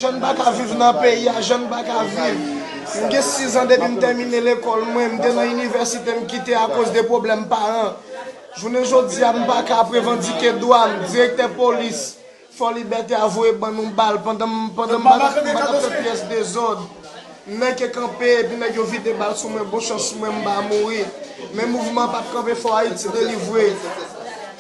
Jan m pa ka viv nan peyi a jan m pa ka viv. M gen sizan depi m tèmine lekòl mwen, m te nan inivèsite m kite akoz de pwoblèm paran. Jounen jodi a m pa ka ap revandike dwa m, direktè polis Fò Libète a voye ban nou bal pandan m pandan m bat m bat ap fè pyès dezòd. M nèke kanpe epi nèg yo vide bal sou mwen bon chans mwen m pa mouri. Men mouvman an p ap kanpe fò Ayiti delivre.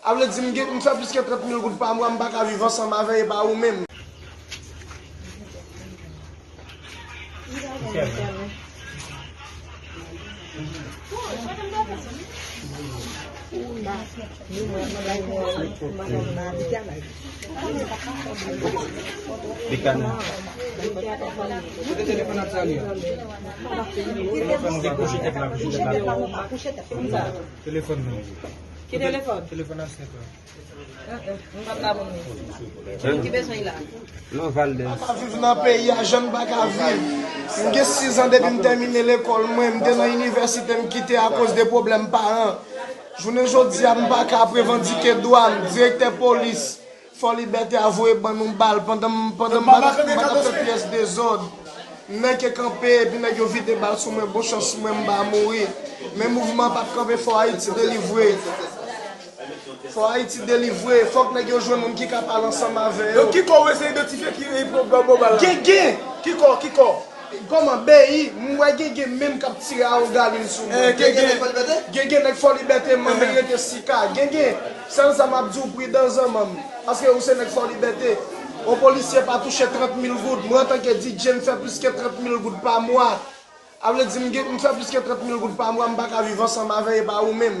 A vle di m gen m fè plis ke 30 mil goud pa mwa m pa ka viv ansanm avè e pa ou menm. Telefòn nan. Ki telefòn? Telefòn asnèt la. M pa bla moun li. Ki bezwen li la? Non Valdez. M pa viv nan peyi a jan m pa ka viv. M gen 6 an depi m tèmine lekòl mwen. M te nan inivèsite m kite akoz de pwoblèm paran. Jounen jodi a m pa ka aprevandike dwa m. Direktè polis. Fò libète a voye ban nou bal pandan m ap fè pyès dezòd. Nèg yo kanpe epi nèg yo vide bal sou mwen bon chans mwen m pa mouri. Men mouvman an pap kanpe fò Ayiti delivre. Fò Ayiti delivre. Fòk nèg yo jwenn moun ki ka pale ansanm avè yo. Gen gen! Koman bby m wè gege menm kap tire a ou galil sou mwen gege gege nèg fò libète man men rete sika gege sèl sa map diw pridan zanman m paske ou se nèg fò libète on polisye pa touche 30 mil goud mwen antanke DJ m fè plis ke 30 mil goud pa mwa a vle di m fè plis ke 30 mil goud pa mwa m paka viv ansanm avè epa ou menm.